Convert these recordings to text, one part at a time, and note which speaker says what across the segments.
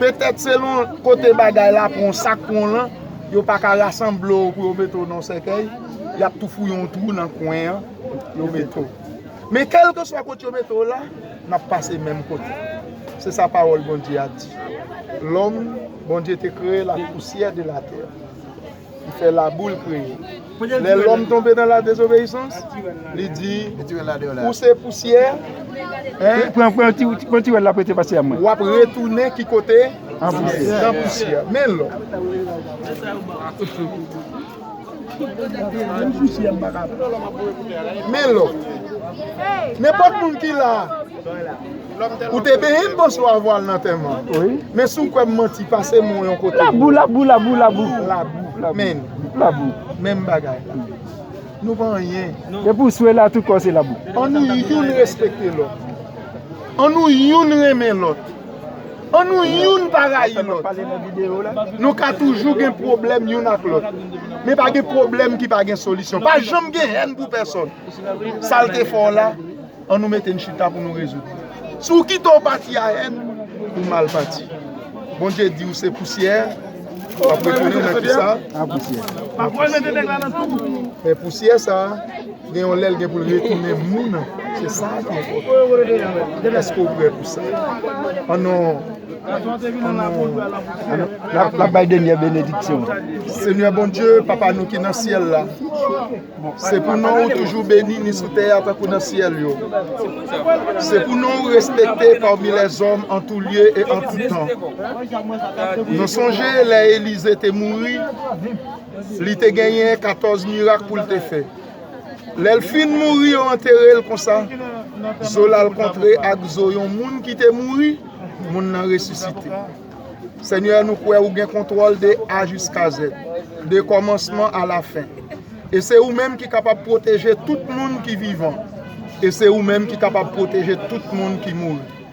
Speaker 1: Petèt selon kote bagay la pou yon sak pou yon lan, yo pa ka rasanble w pou yo mete w nan yon sèkèy, y ap tou fouye yon twou nan kwen an, yo mete w. Men kèlkeswa kote yo mete w la, n ap pase menm kote. Se sa Pawòl Bondye a di. Lòm, Bondye te kreye l ak pousyè de latè. ki fè laboul kreye. Lè lòm tonbe nan la dezobeyisans, li di, ou se pousyè,
Speaker 2: w ap retounen ki
Speaker 1: kote? Nan pousyè. Men lò. Men lò. Nenpòt moun ki la. Ou te benyen moso a vwal nan tèman Men si w kwè
Speaker 2: m manti
Speaker 1: pase men w yon kote Labou labou labou
Speaker 2: labou Labou
Speaker 1: men Labou
Speaker 2: menm bagay la
Speaker 1: Nou pa anyen Depi w swe la
Speaker 2: tout kò w se labou An nou youn
Speaker 1: respekte lòt An nou youn renmen lòt An nou youn pa rayi lòt Nou ka toujou gen pwoblèm youn ak lòt Men pa gen pwoblèm ki pa gen solisyon Pa janm gen hèn pou pèsòn Sa l te fè w la An nou mete n chita pou nou rezoud. Si w kite w pati a èn, ou mal pati. Bondye di w se pousyè, w ap retounen nan ki sa? Nan pousyè.
Speaker 2: Men
Speaker 1: pousyè sa a, gen yon lè l gen pou l retounen moun, se sa a ki enpòtan. Èske w prè pou sa? An nou, an nou, n
Speaker 2: ap bay denyè benediksyon. Senyè
Speaker 1: Bondye, Papa nou ki nan syèl la. Se pou non ou toujou beni ni sou tè a tankou nan syèl yo. Se pou non ou respekte pami lèzòm an tou lye e an tout tan. Nou sonje lè Elize te mouri, li te genyen katòz mirak pou l te fè. Lè l fin mouri yo antere l konsa, zo l al kontre ak zo yon moun ki te mouri, moun nan resisite. Senyè nou kwè ou gen kontwòl de A jiska Z, de kòmansman a la fen. E se ou menm ki kapab pwoteje tout moun ki vivan, e se ou menm ki kapab pwoteje tout moun ki mouri.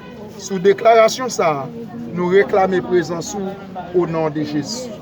Speaker 1: Sou deklarasyon sa a, nou reklame prezans ou o non de Jezi.